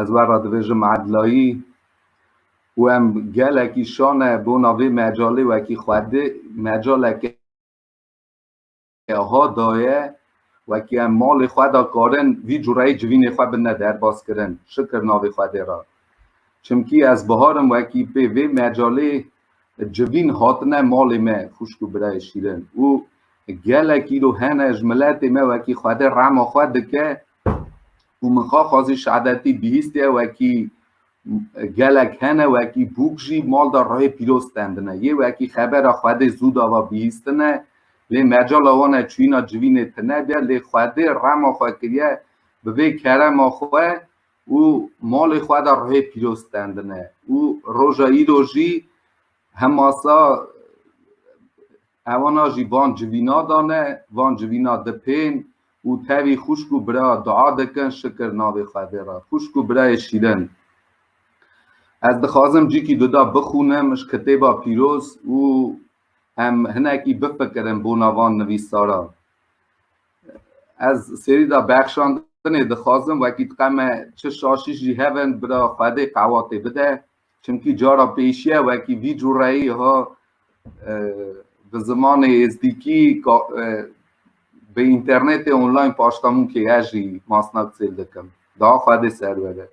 Ez we re dibêjim Edlayî û em gelekî şane bona vê mecalê wekî xwedê mecaleke ha daye wekî em malê xwe da karin vî cureyî civînê xwe bine derbas kirin şikir navê xwedê re çimkî ez biharim wekî pê vê mecalê civîn hatine malê me xwişk û birayê şîrin û gelekî ro hene ji miletê me wekî xwedê rema xwe dike û min xaxwazî şehadetî bihîstiye wekî gelek hene wekî bûk jî mal da rehê pîroz stendine yê wekî xebera xwedê zû dava bihîstine lê mecala wan e çûyîna civînê tine biye lê xwedê rema xwe kiriye bi vê kerema xwe û malê xwe da rehê pîroz stendine û roja îro jî hemasa Hewana jî van civîna dane, van civîna dipên û tevî xwişk û bira dua dikin şikir navê xwe dê re. Xwişk û birayê şîrin. Ez dixwazim cîkî duda bixûnim ji kitêba pîroz û em hinekî bifikirin bona van nivîsaran. Ez serîda bexşandinê dixwazim wekî diqeme çi şaşîş jî hebin bira xwe dê qewatê bide. Çimkî cara pêşiye wekî vî cureyî ha bi zimanê êzdîkî bi înternetê online paştemûkê ez jî masna qisê dikim. Daha xwedê serwere.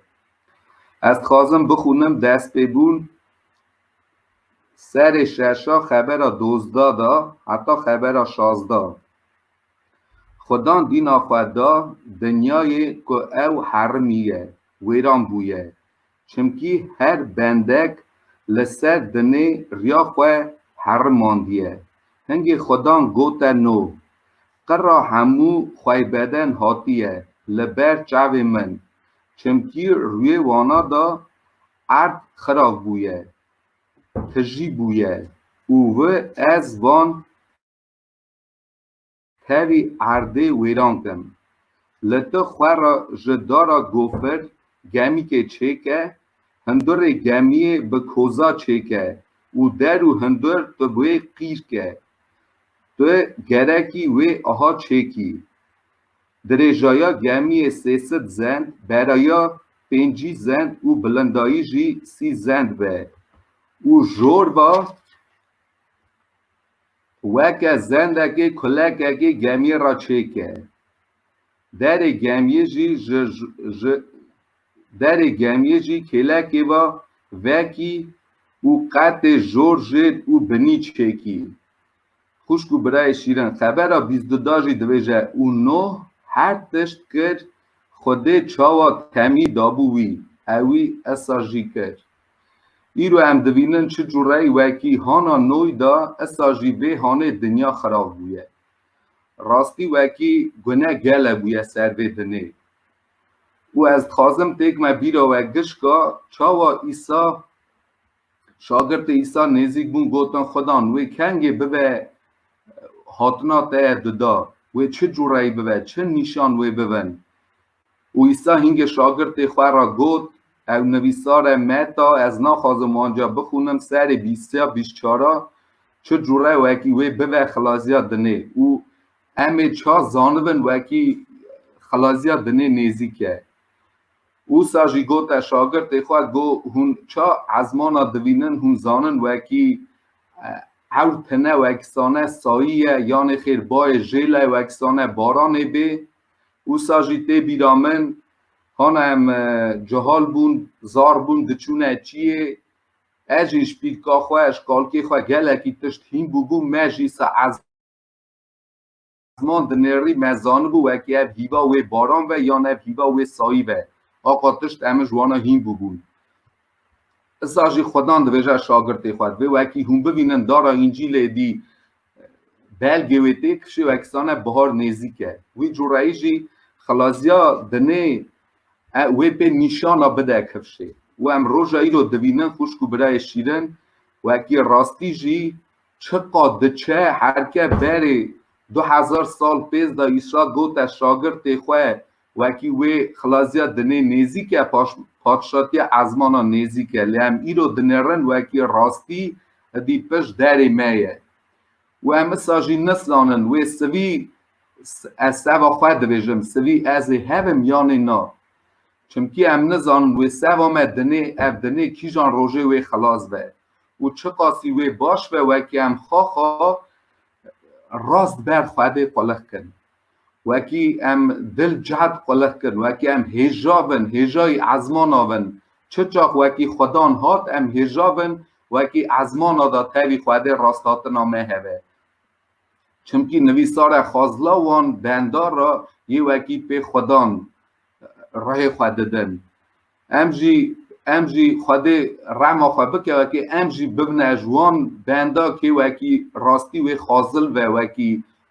Ez dixwazim bixûnim dest pê bûn serê şeşa xebera dozda da heta xebera şazda. Xudan dîna xwe da dinyayê ku ew herimî ye, wêran bûye. Çimkî her bendek li ser dinê riya xwe herimandiye. Hingê xwedan gote no. Qira hemû xweybeden hatiye li ber çavê min. Çimkî rûyê wana de erd xirab bûye, tijî bûye û wi ez van. Tevî erdê wêran kin. Li ti xwe re ji dara gofir gemîkê çêke, hundirê gemiyê bi koza çêke û der û hundir tu bi wê qîr ke. Tu gerekî wê aha çêkî. Dirêjaya gemiyê sê sid zend, beraya pêncî zend û bilindayî jî sî zend be û jorba Weke zendekê kulekekî gemî ra çêke. Derê gemî jî ji ji derê gemî jî kêlekê va vekî û qetê jor jêd û binî çêkî. Xwişk û birayê şîrin xebera bîst du da jî dibêje û Nuh her tişt kir Xwedê çawa temî dabû wî, ewî esa jî kir. Îro em dibînin çi cureyî wekî hana noy de issa jî vê hanê dinya xirav bûye. Rastî wekî gune gele bûye ser vê dinê. Û ez dixwazim têk me bîra we gişka çawa Îsa şagirtê Îsa nêzîk bûn gotin Xudan wê kengê bibe hatina te ye dida, wê çi cureyî bibe, çi nîşan wê bibin. Û Îsa hingê şagirtê xwe re got, Ew nivîsar e, Meta, ez naxwazim wan ca bixwînim, serê bîstiya bîşçara, çi cure wekî wê bibe xilaziya dinê. Û em ê ça zanibin wekî xilaziya dinê nêzîk e. Îsa jî gote şagirtê xwe, go, hûn ça ezmana divînin, hûn zanin wekî ewr tine, wekî sane sayî ye, yanê xêr bayê jêle, wekî sane baranê bê. Wisa jî tê bîra min hana em cihal bûn, zar bûn diçûne çiyê. Ez jî ji pîlka xwe, ji kalkê xwe gelekî tişt hîn bûbûm. Me jî se ez man dinêrî me zanibû wekî ev hîva wê baran ve yan ev hîva wê sayî ve. Aqa tişt em ji wana hîn bûbûn. Isa jî xwedan dibêje şagirtê xwe divê wekî hûn bivînin dara Încîlê dî Belgê wê tê kişê wekisane bihar nêzîk e. Wî cureyî jî xilazîya dinê e wê pê nîşana bide kifşê. Û em roja îro divînin xwişk û birayê şîrin wekî rastî jî çiqa diçe herke berê du hezar sal pêz de Îsa gote şagirtê xwe Wekî wê xilaziya dinê nêzîk e, padşatiya ezmanan nêzîk e, lê em îro dinêrin wekî rastî hidî pişt derê me ye û em issa jî nizanin wê sivî ez seva xwe dibêjim sivî ez ê hebim yanê na. Çimkî em nizanin wê seva me dinê ev dinê kîjan rojê wê xilas be û çiqasî wê baş be wekî em xaxa rast ber xwedê qulixkin. Wekî em dil cihd qulix kir, wekî em hêja bin, hêjayî ezmana bin. Çi çax wekî xwedan hat em hêja bin, wekî ezmana da tevî xwedê rasthatina me hebe. Çimkî nivîsare xwazla wan bendar ra yê wekî pê xwedan rihê xwe didin. Em jî em jî Xwedê rehma xwe bike wekî em jî bibine ji wan benda kê wekî rastî wê xazil ve wekî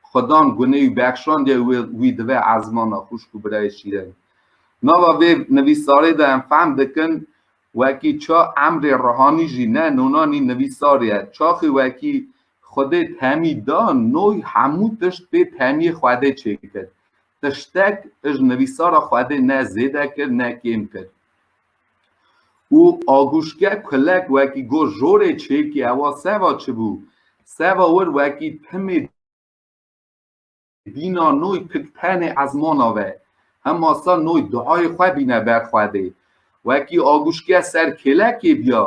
Xwedan gunê û bexşandiye wê wî dive ezmana xwişk û birayê şîrên. Nava vê nivîsarê de em fehm dikin wekî ça emrê rihanî jî ne nonanî nivîsar ye. Çaxê wekî Xwedê temî da noy hemû tişt pê temîyê Xwedê çêkir. tiştek ji nivîsara Xwedê ne zêde kir ne kêm kir. Û aguşke kulek wekî got jorê çêkê ewa seva çibû, seva wir wekî timê dîna noy pik tenê ezmana ve, hema sa noy duayê xwe bîne ber Xwedê. Wekî aguşke ser kêlekê biya,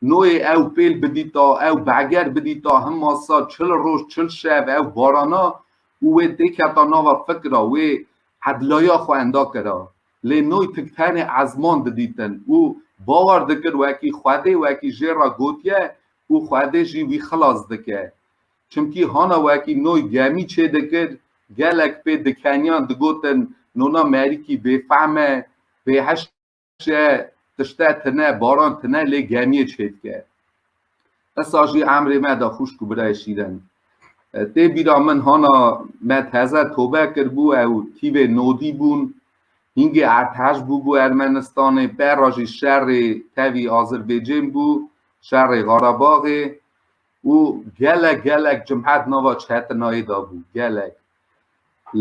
noyê ew pêl bidîta, ew beger bidîta, hema sa çil roj çil şev ew barana û wê tê keta nava fikra wê edlaya xwe enda kira. Lê noy tik tenê ezman didîtin û bawer dikir wekî Xwedê wekî jê re gotiye û Xwedê jî wî xilas dike. Çimkî hana wekî noy gemî çêdikir, gelek pê dikeniyan digotin nona Merîkî bêfehm e, bêhişt şe tişte tine baran tine lê gemiyê çêdike. Esa jî emrê me da xûşk û birayê şîren. Tê bîra min hana me teze tobe kirbû ew tîvê nodî bûn. Hîngê erteş bûbû Ermenistanê, pera jî şerê tevî Azirbêcên bû, şerê Xarabaxê. û gelek gelek cumhet nava çetinayê de bû gelek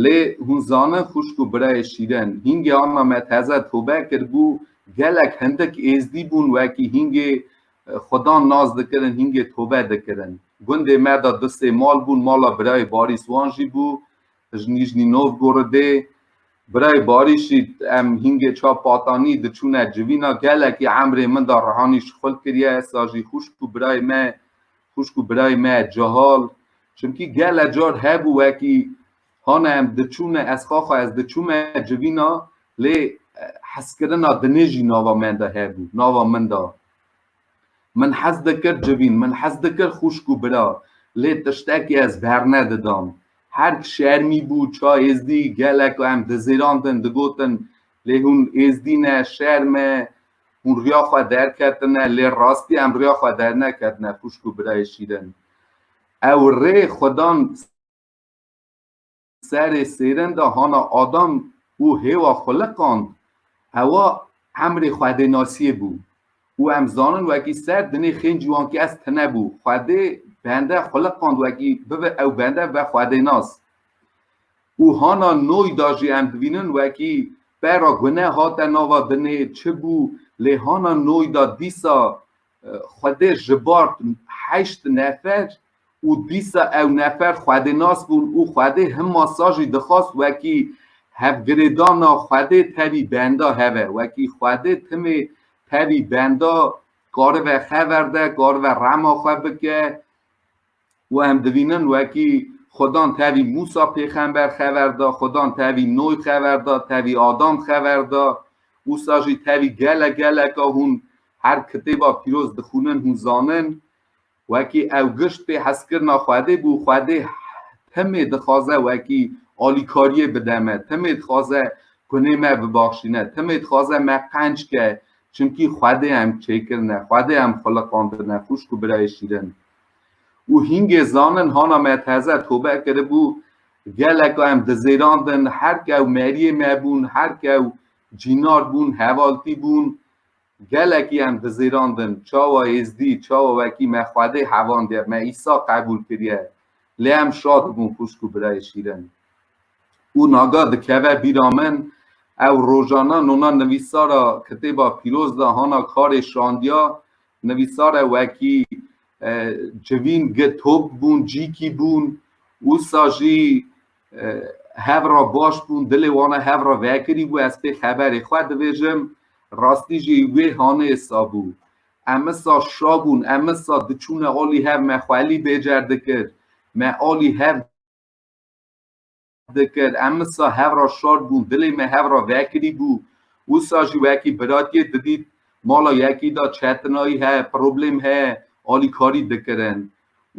lê hûn zanin xwişk û birayê şîrin hîngê ana me teze tobe kiribû gelek hindik êzdî bûn wekî hîngê xwedan nas dikirin hîngê tobe dikirin gundê me de du sê mal bûn mala birayê barîswan jî bû Ji Nîjnî Novgorodê birayê Barîşî em hîngê çav Patanî diçûne civîna gelekî emrê min da rihanî şixul kiriye esa jî xwişk û birayê me xwişk û birayê me cihal çimkî gele car hebû wekî hane em diçûne ez xaxa ez diçûme civîna lê heskirina dinê jî nava me de hebû nava min da Min hez dikir civîn, min hez dikir xwişk û bira, lê tiştekî ez bernedidam. Herg şermî bû, ça êzdî, gelek em dizêrandin, digotin lê hûn êzdî ne, şerm e, hûn riya xwe derketine, lê rastî em riya xwe derneketine xwişk û birayê şîrin. Ew rê xwedan. serê sêrenda hana adam û hêwa xwe liqand, hewa emrê Xwedê nasiyê bû û em zanin wekî ser dinê xên ciwankî ez tine bû, Xwedê bende xwe liqand wekî bibe ew bende bibe Xwedênas. Û hana noy da jî em dibînin wekî pera gune hate nava dinê çi bû lê hana noy da dîsa Xwedê ji bar heşt nefer û dîsa ew nefer xwedênas bûn û Xwedê hima sal jî dixwast wekî hevgirêdana Xwedê tevî benda heve. Wekî Xwedê timê tevî benda karibe xever de, karibe rema xwe bike, û em dibînin wekî Xudan tevî Mûsa pêxember xeber da, Xudan tevî Noy xeber da, tevî Adam xeber da, wisa jî tevî gele geleka hûn her kitêba pîroz dixwînin hûn zanin. Wekî ew gişt pê hezkirina Xwedê bû, Xwedê timê dixwaze wekî alîkariyê bide me, timê dixwaze gunê me bibaxşîne, timê dixwaze me qenc ke, çimkî Xwedê em çêkirine, Xwedê em xuliqandine, xwişk û birayê şîrin. û hîngê zanin hana me teze tobe kiribû, geleka em dizêrandin, her kew meriyê me bûn, her kew cînar bûn, hevaltî bûn, gelekî em dizêrandin, çawa êzdî, çawa wekî me Xwedê hevandiye, me Îsa qebûl kiriye, lê em şa dibûn xwişk û birayê şîrin. Û naga dikeve bîra min, ew rojana nona nivîsara Kitêba Pîroz de hana karê şandiya Nivîsare wekî civîn gi top bûn, cîkî bûn, wisa jî hev re baş bûn, dilê wan e hev re vekirî bû, ez pê xeberê xwe dibêjim, rastî jî wê hanê sa bû. Em isa şa bûn, em isa diçûne alî hev, me xwelî bêcer dikir, me alî hev. dikir em wisa hev re şor bûn dilê me hev re vekirî bû wisa jî wekî biratiyê didît mala yekî de çetinayî heye problêm heye alîkarî dikirin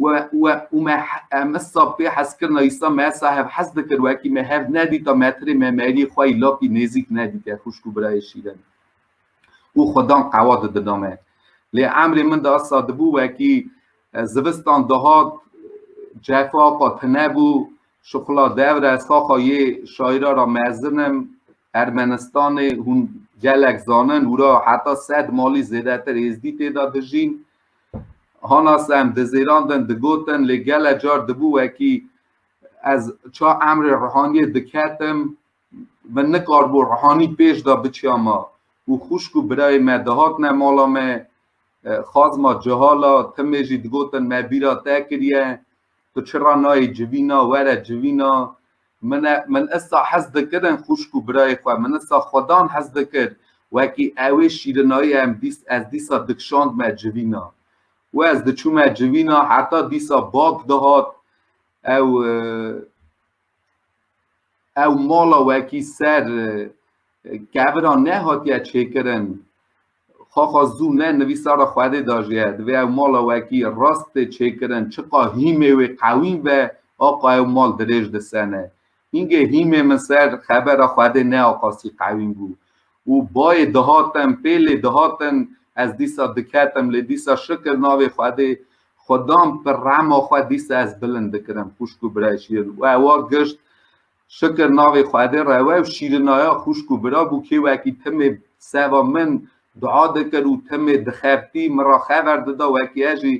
we we û me em wisa pê hezkirina îsa me wisa hev hez dikir wekî me hev nedîta metirê me merî xwe yî lapî nêzîk nedîte xuşk û birayê şîrin û xwedan qewa didina me lê emrê min de wisa dibû wekî zivistan dihat cefa qat nebû Şixula devre saxa yê şaîra ra mezin im. Ermenistanê hûn gelek zanin û ra heta sed malî zêdetir êzdî tê de dijîn. Hanas em dizêrandin, digotin lê gele car dibû wekî ez ça emrê rihaniyê diketim min nikaribû rihanî pêş de biçiya ma û xwişk û birayê me dihatine mala me xazma cihala timê jî digotin me bîra te kiriye Tu çira nayê civîna, were civîna. Min e, min issa hez dikirin xwişk û birayê xwe, min issa xwedan hez dikir. Wekî ewê şîrinayî em dîs, ez dîsa dikşand me civîna. Û ez diçûme civîna heta dîsa bak dihat, ew, ew mala wekî ser kevira nehatiye çêkirin xaxa zû ne nivîsara Xwedê da jî ye divê ew mala wekî rast tê çêkirin çiqa hîmê wê qewîm be aqa ew mal dirêj disene. Hîngê hîmê min ser xebera Xwedê ne aqasî qewîm bû. û bayê dihatem pê lê dihatin ez dîsa diketim lê dîsa şikir navê Xwedê xwe dam bi rehma xwe dîsa ez bilind dikirim xwişk û bira jî û ewa gişt şikir navê Xwedê rewe û şîrinaya xwişk û bira bû kê wekî timê seva min dua dikir û timê dixebitî min ra xever dida wekî ez jî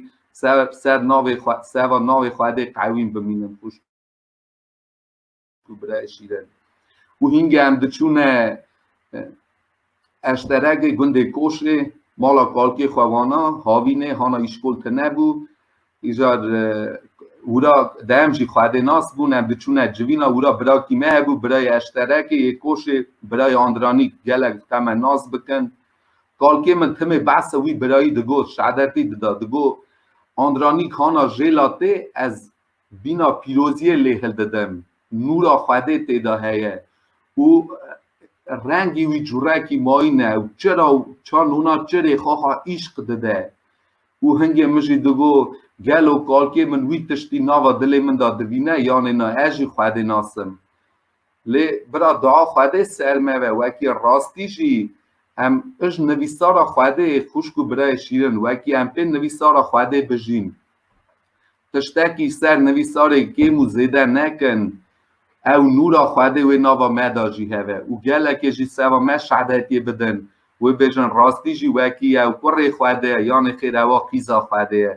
ser navê seva navê Xwedê qewîm bimînim xwişk Tu bire şîren. Û hîngê em diçûne eşteregê gundê koşê mala kalkê xwewana havînê hana îşkol tine bû îcar e, wira dem jî xwedê nas bûn em diçûne civîna wira birakî me hebû birayê eşterekê yê koşê birayê andranî gelek dixeme nas bikin kalkê min timê behsa wî birayî digot şehadetî dida digot andranî hana jêla tê ez Bîna pîroziyê lê hildidim, nûra Xwedê tê de heye û rengî wî curekî mayîn e û çira û çand hûna çirê xaxa îşq dide. Û hingê min jî digot, gelo kalkê min wî tiştî nava dilê min de dibîne yanê na ez jî Xwedê nasim. Lê bira dua Xwedê ser me be, wekî rastî jî em ij nivîsara Xwedê, xwişk û birayê şîrin, wekî em pê nivîsara Xwedê bijîn. Tiştekî ser nivîsarê kêm û zêde nekin. Ew nûra Xwedê wê nava me de jî hebe û gelekê jî seva me şehadetiyê bidin û bêjin rastî jî wekî ye ew kurê Xwedê ye yanê xêr ewa qîza Xwedê ye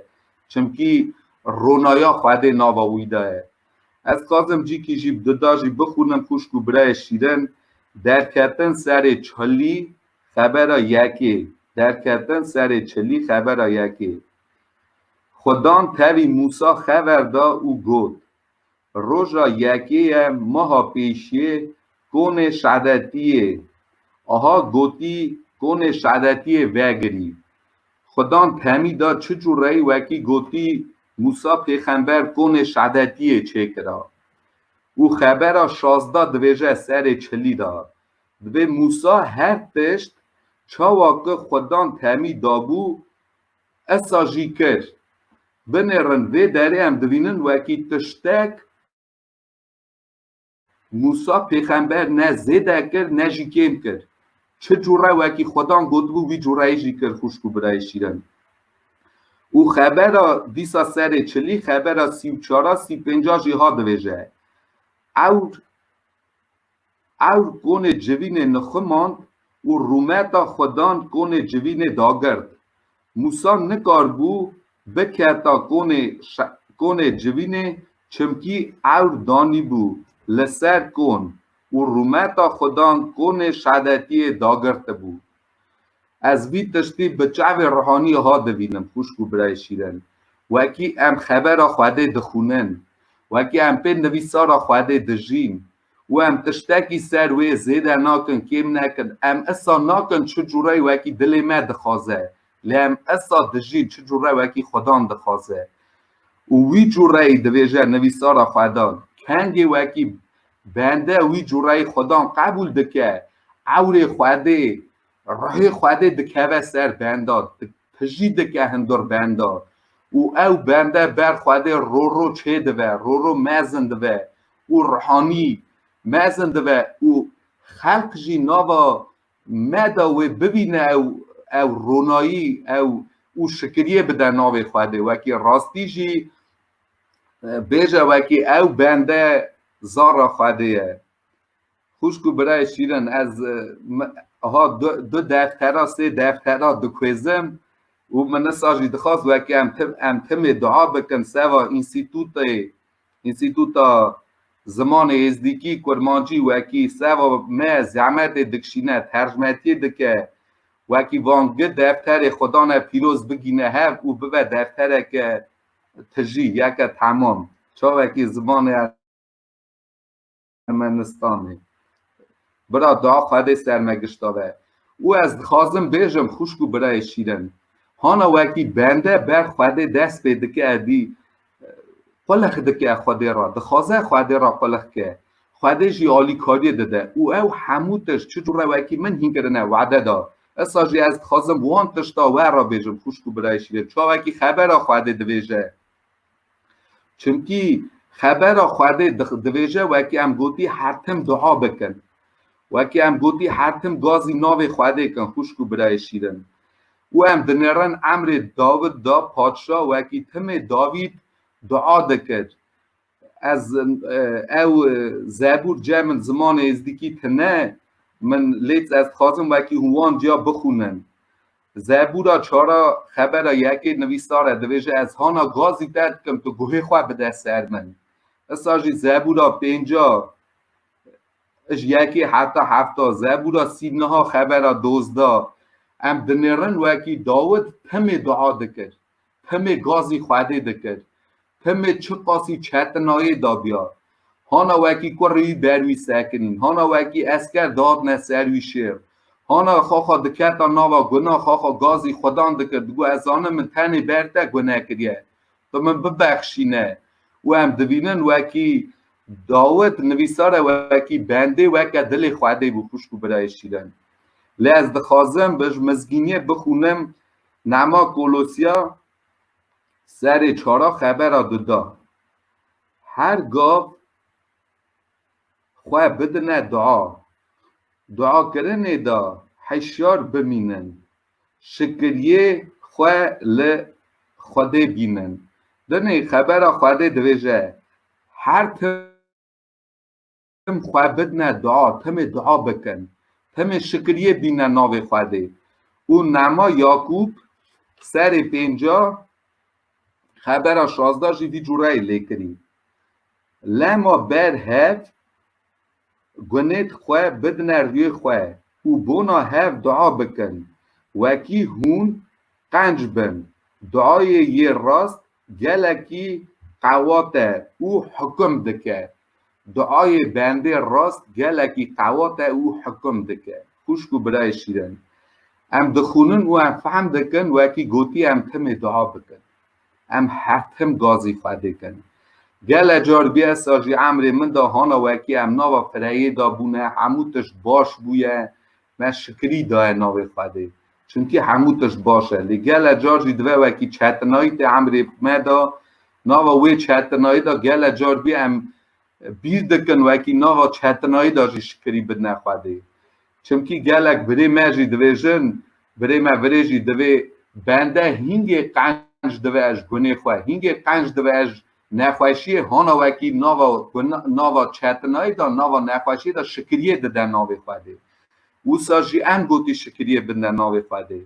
çimkî ronaya Xwedê nava wî de ye. Ez dixwazim cîkî jî di da jî bixwînim xwişk û birayê şîrin Derketin serê çilî xebera yekê Derketin serê çilî xebera yekê. Xudan tevî Mûsa xever da û got, Roja yekê ye meha pêşiyê konê şedetiyê aha gotî konê şedetiyê vegirî. Xudan temî da çi cureyî wekî gotî Mûsa pêxember konê şedetiyê çêkira. Û xebera şazda divêje serê çilî da. Divê Mûsa her tişt çawa ki Xudan temî dabû Esajî kir. Binêrin vê derê em dibînin wekî tiştek Mûsa pêxember ne zêde kir ne jî kêm kir. Çi cure wekî xwedan gotibû wî cureyê jî kir xwişk û birayê şîrin. Û xebera dîsa serê çilî xebera sî û çara sî pênca jî hat divêje. Ewr Ewr konê civînê niximand û rûmeta xwedan konê civînê dagird. Mûsa nikaribû biketa konê konê civînê çimkî ewr danîbû li ser kon û rûmeta xwedan konê şedetiyê dagirtibû. Ez vî tiştî bi çavê rihanî ha divînim xwişk û birayê şîren. Wekî em xebera Xwedê dixwînin, wekî em pê nivîsara Xwedê dijîn û em tiştekî ser wê zêde nakin, kêm nekin, em issa nakin çi cure wekî dilê me dixwaze, lê em issa dijîn çi cure wekî Xwedan dixwaze. Û wî cureyî divêje nivîsara Xwedan, Kengê wekî Bende wî cureyê xwedan qebûl dike, ewrê Xwedê, ruhê Xwedê dikeve ser benda, tijî dike hundir benda û ew bende ber Xwedê roro çêdive, roro mezin dive û ruhanî mezin dive û xelq jî nava me de wê bibîne ew ew ronayî ew û şikiriyê bide navê Xwedê. Wekî rastî jî Bêje wekî ew bende zara Xwedê ye. Xwişk û birayê şîrin ez ha du deftera sê deftera dikuêzim û min nisa jî dixwaz wekî em tim em timê dua bikin seva înstîtûtê înstîtûta zimanê êzdîkî kurmancî wekî seva me zehmetê dikişîne tercmetiyê dike wekî van gi defterê xwedane pîroz bigîne hev û bibe deftereke Tijî yeke temam çawekî zimanê Ermenistanê bira da Xwedê ser me gişta be û ez dixwazim bêjim xwişk û birayê şîrin hana wekî bende ber Xwedê dest pê dike edî qulix dike Xwedê ra dixwaze Xwedê ra qulix ke Xwedê jî alîkariyê dide û ew hemû tişt çi cure wekî min hîn kirine wede da Esa jî ez dixwazim wan tişta we re bêjim xwişk û birayê şîrîn çawekî xebera Xwedê divêje. Çimkî xebera Xwedê divêje wekî em gotî her tim dua bikin. Wekî em gotî her tim gazî navê Xwedê kin xwişk û birayê şîrîn. Û em dinêrin emrê Dawid da paşa wekî timê Dawîd dua dikir. Ez ew zebûr ce min zimanê êzdikî tine min lêt ez dixwazim wekî hûn wan ciya bixûnin. Zebûra çara xebera yekê nivîsar e divêje ez hana gazî derdikim tu guhê xwe bide ser min. Issa jî zebûra pênca ji yekê heta hefta zebûra sî niha xebera dozda em dinêrin wekî Dawid timê dua dikir. Pemê gazî xwedê dikir. Pemê çi qasî çetinayê da diyar. Hana wekî kurrî wî ber wî sekinîn. Hana wekî esker dadne ser wî şêr. Hana xaxa diketa nava guna xaxa gazî xwedan dikir. Digot ez zanim min tenê ber te gune kiriye. Tu min bibexşîne. Û em dibînin wekî Dawit nivîsare wekî bendê weke dilê xwedê bû xwişk û birayê şîrin. Lê ez dixwazim bi ji mizgîniyê bixwînim Nema Kolosya serê çara xebera dida. Her gav xwe bidine dua. Duakirinê de hişyar bimînin. Şikiryê xwe li Xwedê bînin. Dinê xebera Xwedê dibêje, Her tim. tim xwe bidne dua, timê dua bikin, timê şikiriyê bîne navê Xwedê. Û Nema Yakûb serê pênca xebera şazda jî vî cûreyê lê kirî. Lema ber hev gunêt xwe bidne rûyê xwe û bona hev dua bikin, wekî hûn qenc bin, duayê yê rast Gelekî qewate û hikim dike. Duayê bendê rast gelekî qewate û hikim dike. Xwişk û birayê şîrin. Em dixwînin û em fehm dikin wekî gotî em timê dua bikin. Em her tim gazî xwe dikin. Gele car bsa jî emrê min de hana wekî em nava fireyê de bûne hemû tişt baş bûye me şikirî daye navê Xwedê. Çimkî hemû tişt baş e, lê gele car jî dive wekî çetinayî tê emrê me de, nava wê çetinayî de gele car bî em bîr dikin wekî nava çetinayî de jî şikirî bidine Xwedê. Çimkî gelek birê me jî dibêjin, birê me virê jî divê bende hîngê qenc dive ez gunê xwe, hîngê qenc dive ez Nexweşiyê hona wekî nava ku nava çetinayî da nava nexweşiyê da şikiriyê dide navê Xwedê. Wisa jî em gotî şikiriyê binde navê Xwedê.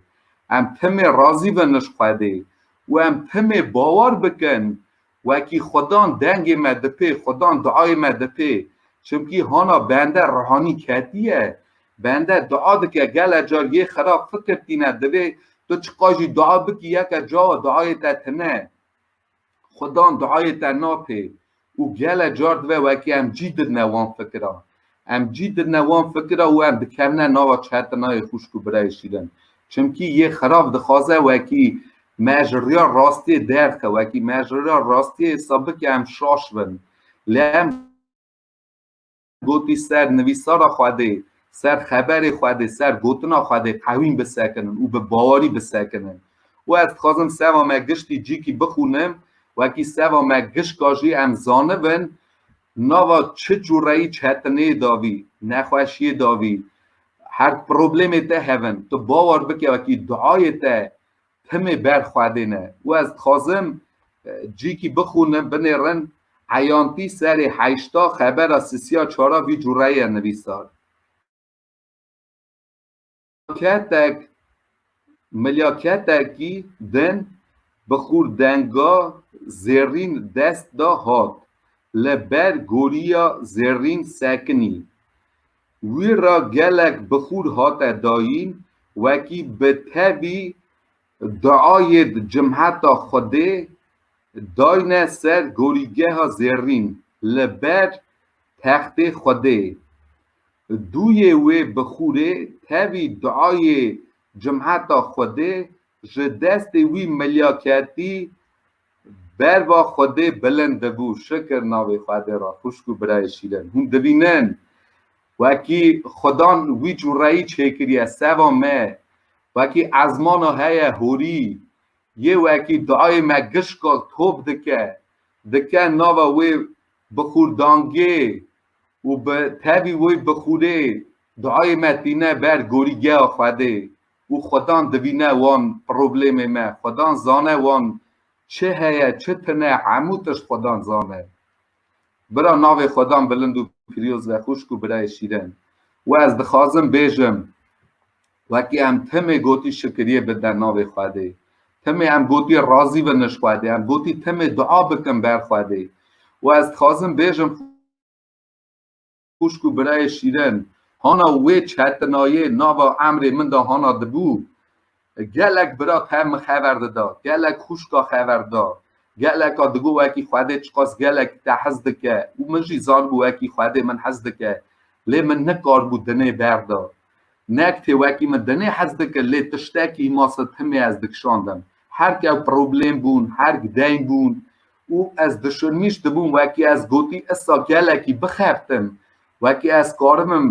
Em timê razî bin ji Xwedê û em timê bawar bikin wekî Xwedan dengê me dipê, Xwedan diayê me dipê. Çimkî hona bende rihanî ketiye. Bende dia dike gele car yê xirab fikir tîne divê tu çiqajî dia bikî yeke cawa diayê te tine. Xudan duayê te nake û gele car dibe wekî em cî didine wan fikiran. Em cî didine wan fikira û em dikevine nava çetinayê xwişk û birayê şîrin. Çimkî yê xirav dixwaze wekî me ji riya rastiyê derxe, wekî me ji riya rastiyê sabike em şaş bin. Lê em. Gotî ser nivîsara Xwedê, ser xeberê Xwedê, ser gotina Xwedê qewîm bisekinin û bi bawerî bisekinin. Û ez dixwazim seva me giştî cîkî bixwînim, wekî seva me gişka jî em zanibin nava çi cureyî çetineyê davî, nexweşiyê davî, her problemê te hevin. Tu bawer bike wekî duayê te Timê ber xwe dê ne û ez dixwazim cîkî bixûnim, binêrin eyantî serê heyşta xebera sisiya çara vî cureyê nivîsar. Ketek milya ketekî din bi xûrdenga zêrîn dest da hat li ber gorîya zêrîn sekinî. Wî ra gelek bixûr hate dayîn wekî bi tevî duayê di cimheta Xwedê dayne ser gorîgeha zêrîn li ber textê Xwedê. Duyê wê bixûrê tevî duayê cimheta Xwedê ji destê wî milya ketî Berva Xwedê bilind dibû, şikir navê Xwedê ra, xwişk û birayê şîrin. Hûn dibînin, wekî Xwedan wî cureyî çêkiriye, seva me, wekî ezmana heye horî, yê wekî dayê me gişka top dike, dike nava wê bixûrdangê û bi tevî wê bixûrê, dayê me tîne ber gorîgeya Xwedê. û xwedan dibîne wan problêmê me, xwedan zane wan çi heye çi tine hemû tişt xwedan zane. Bira navê xwedan bilind û piryoz be xwişk û birayê şîren. Û ez dixwazim bêjim wekî em timê gotî şikiriyê bidin navê xwedê, timê em gotî razî bin ji xwedê, em gotî timê dua bikin ber xwedê û ez dixwazim bêjim, xwişk û birayê şîrin, hana wê çetinayê nava emrê min de hana dibû. Gelek bira te min xever dida, gelek xwişka xever dida. Geleka digot wekî Xwedê çiqas gelek te hez dike û min jî zanibû wekî Xwedê min hez dike. Lê min nikaribû dinê berda. Nek tê wekî min dinê hez dike lê tiştekî masa timê ez dikişandim. Herkew problêm bûn, herg deyn bûn û ez dişirmîş dibûm wekî ez gotî issa gelekî bixebtim wekî ez karibim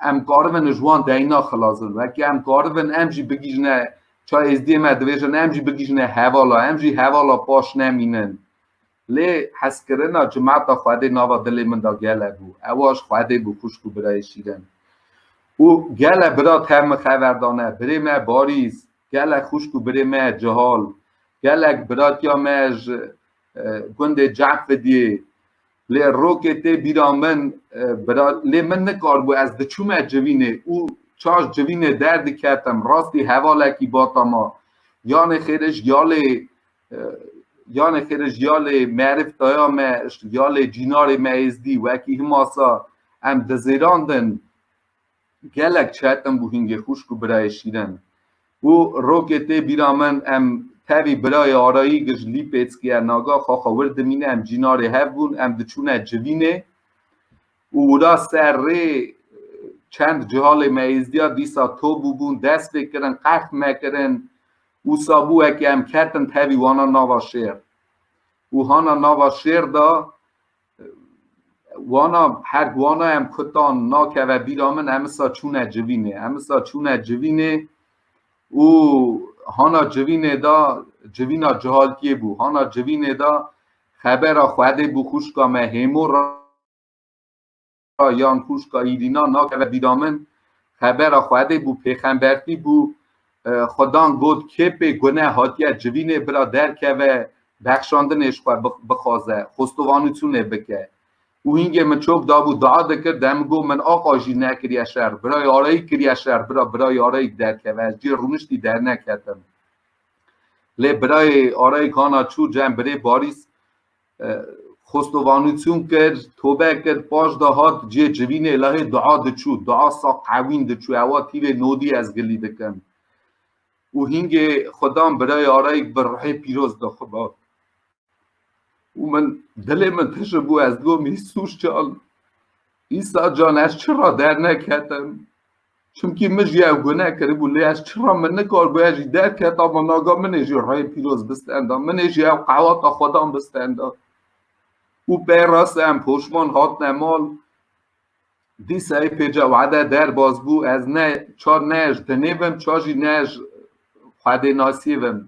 em karibin ji wan deyna xilas bin wekî em karibin em jî bigîjine ça êzdiyê me dibêjin em jî bigîjine hevala em jî hevala paş nemînin lê heskirina cimata xwedê nava dilê min da gele bû ewa ji xwedê bû xuşk û birayê şîrin û gele bira tev min xever dane birê me barîs Gelek xwişk û birê me cihal, gelek biratiya me ji gundê Cefidiyê lê rokê tê bîra min lê min nikaribû ez diçûme civînê û çaş civînê derdiketim rastî hevalekî bata ma. Yanê xêrij ya lê yanê xêrij ya lê merif daya me ya lê cînarê me êzdî wekî himasa em dizêrandin gelek çetin bû hîngê xwişk û birayê şîrin. Û rokê tê bîra min em tevî birayê arayî gij lîpêckî ye naga xaxa wir dimîne em cînarê hev bûn em diçûne civînê û wira ser rê çend cihalê me êzdîya dîsa to bûbûn dest pê kirin qerx me kirin wisa bû wekî em ketin tevî wana nava şêr û hana nava şêr da wana her wana em kutan nakeve bîra min emisa çûne civînê emisa çûne civînê û hana civînê da civîna cihalkiyê bû hana civînê da xebera xwedê bû xuşka me hêmo yan kûşka Îrîna nakeve bîra min xebera xwedê bû pêxembertî bû xwedan got kêpê gune hatiye civînê bira derkeve bexşandinê ji xwe bixwaze xostovanûçûnê bike û hîngê min çok dabû dua dikir dem got min aqa jî nekiriye şer bira yareyî kiriye şer bira bira yareyîk derkeve ez cê rûniştî derneketim lê birayê arayîk hana çû cem birê barîs Xostovanûçûn kir, tobe kir, paş de hat cihê civînê lehê dua diçû, dua saq ewîn diçû, ewa tîvê nodî ez gilî dikim. Û hîngê xwe dan birayê arayîk bi ruhê pîroz de xwe da. Û min dilê min tije bû ez digotim Îsûs can, Îsa can ez çira derneketim, Çimkî min jî ev guneh kiribû lê ez çira min nikaribû ez jî derketa ma naga min ê jî rê pîroz bistenda min ê jî ew qehwata xwedan bistenda û pey rast em poşman hatine mal dîsayê pêca wede derbas bû ez ne çar ne ez dinê vim çar jî ne ez xwedê nasî vim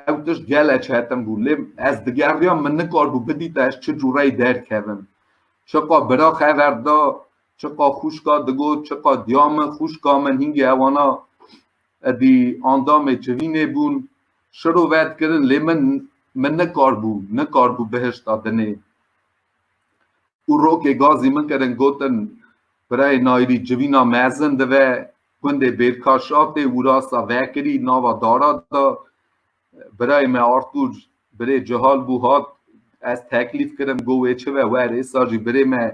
ew tişt gele çetin bû lê ez digeriya min nikaribû bidîta ez çi cûreyî derkevim çiqa birax hever da Çiqa xuşka digot, çiqa diya min, xuşka min hîngê hewana edî andamê civînê bûn. Şiro ve dikirin lê min min nikaribû, nikaribû bihişta dinê. Û rokê gazî min kirin gotin Birayê Nayirî civîna mezin dive, gundê Bêrkaşatê, wurasa vekirî nava dara da. Birayê me Artur birê cihal bû hat ez teklîf kirim got wê çi ve wer êsa jî birê me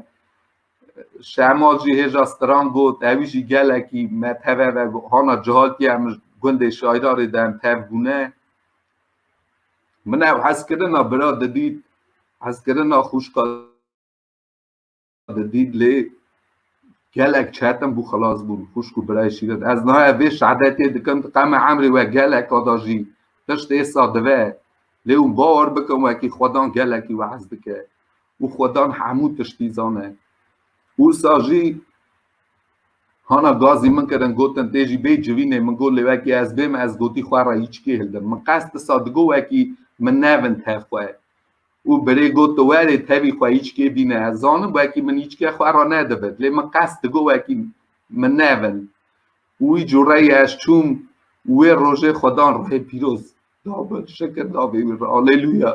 Şemal jî hêja stran got ewî jî gelekî me teve ve hana cihaltiye em gundê şayrarê de em tev bûne min ew hezkirina bira didît hezkirina xûşka Di Dîdlê gelek çetin bû xilas bûn xwişk û birayê şîret. Ez niha vê şehadetiyê dikim di qeme emrê we geleka da jî tişt êsa dive. Lê hûn bawer bikin wekî xwedan gelekî we'ez dike û xwedan hemû tiştî zane. Ûsa jî hana gazî min kirin gotin tê jî bê civînê min got lê wekî ez bêm ez gotî xwe re hîçkî hildim. Min qes disa digot wekî min nevin tev xwe. Û birê got tu werê tevî xwe îçkê bîne ez zanim wekî min îçke xwe ra nedivit lê min qest digot wekî min nevin û wî cureyê ez çûm û wê rojê xwe dan rihê pîroz da min şikir da vê wî re Alelûya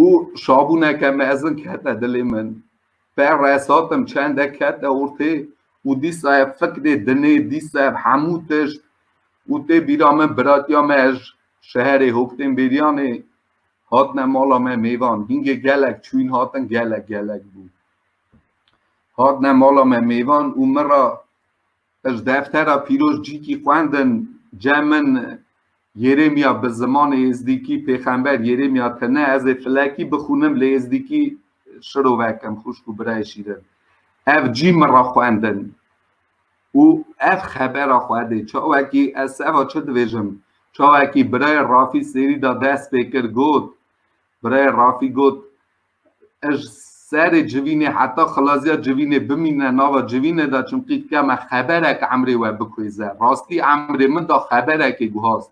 û şabûneke mezin kete dilê min per resatim çende kete ortê û dîsa ev fikirê dinê dîsa ev hemû tişt û tê bîra min biratiya me ez Şeherê Hok tên Bêryanê hatine mala me mêvan. Hingê gelek çûyn hatin gelek gelek bû. Hatine mala me mêvan û min ra ez deftera pîroz cîkî xwendin cem min Yeremya bi zimanê êzdîkî pêxember Yeremya tine ez ê filekî bixûnim lê êzdîkî şirove kim xwişk û birayê şîrin. Ev cî min ra xwendin. û ev xebera xwedê çawekî ez seva çi dibêjim çawekî birayê Rafî sêrî da dest pê kir got birayê Rafî got ij serê civînê heta xilaziya civînê bimîne nava civînê da çimkî dike me xeberek emrê we bikuêze rastî emrê min da xeberekê guhast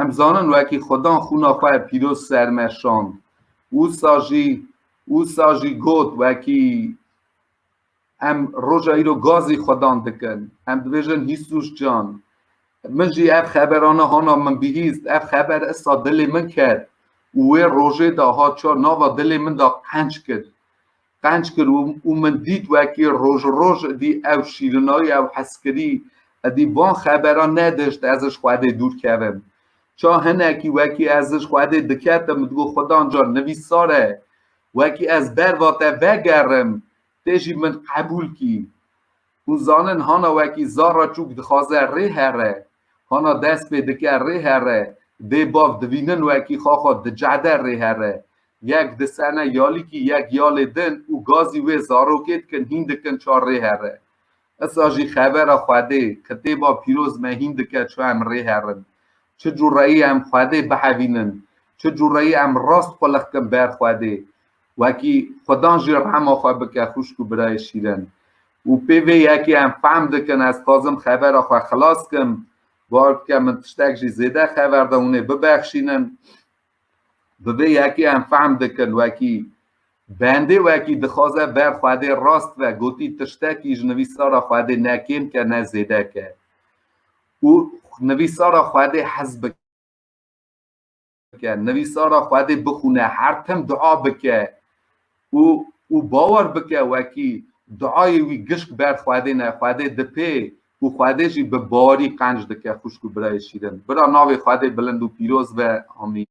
Em zanin wekî Xudan xûna xwe pîroz ser me şand. Wisa jî wisa jî got wekî em roja îro gazî Xudan dikin. Em dibêjin Hîsus can. Min jî ev xeberana hana min bihîst. Ev xeber issa dilê min ket û wê rojê de ha çar nava dilê min de qenc kir. qenc kir û min dît wekî roj û roj idî ew şîrinayî ew heskirî idî van xeberan nedişt ez ji Xwedê dûr kevim. Ça hinekî wekî ez ji Xwedê diketim digot Xwedan can nivîsar e wekî ez ber va te vegerim tê jî min qebûl kî. Hûn zanin hana wekî zarra çûk dixaze rê here, hana dest pê dike rê here, dê bav divînin wekî xaxa dicehde rê here. Yek disene yalîkî yek yalê din û gazî wê zarokê dikin hîn dikin ça rê here. Isa jî xevera Xwedê, kitêba pîroz me hîn dike ça em rê herin. Çi cureyî em Xwedê bihevînin, çi cureyî em rast qulixkin ber Xwedê. Wekî xudan jî rehma xwe bike xwişk û birayê şîrin. Û pê vê yekê em fehm dikin ez dixwazim xebera xwe xilas kim. Bar bike min tiştek jî zêde xeber de hûnê bibexşînin. Bi vê yekê em fehm dikin wekî bendê wekî dixwaze ber xwedê rast ve gotî tiştekî ji nivîsara xwedê ne kêm ke ne zêde ke. Û nivîsara xwedê hez bike. bike, nivîsara Xwedê bixwîne, her tim dua bike û û bawer bike wekî duayê wî gişk ber Xwedê ne, Xwedê dipê û Xwedê jî bi barî qenc dike xwişk û birayê şîrin. Bira navê Xwedê bilind û pîroz be. Amîn.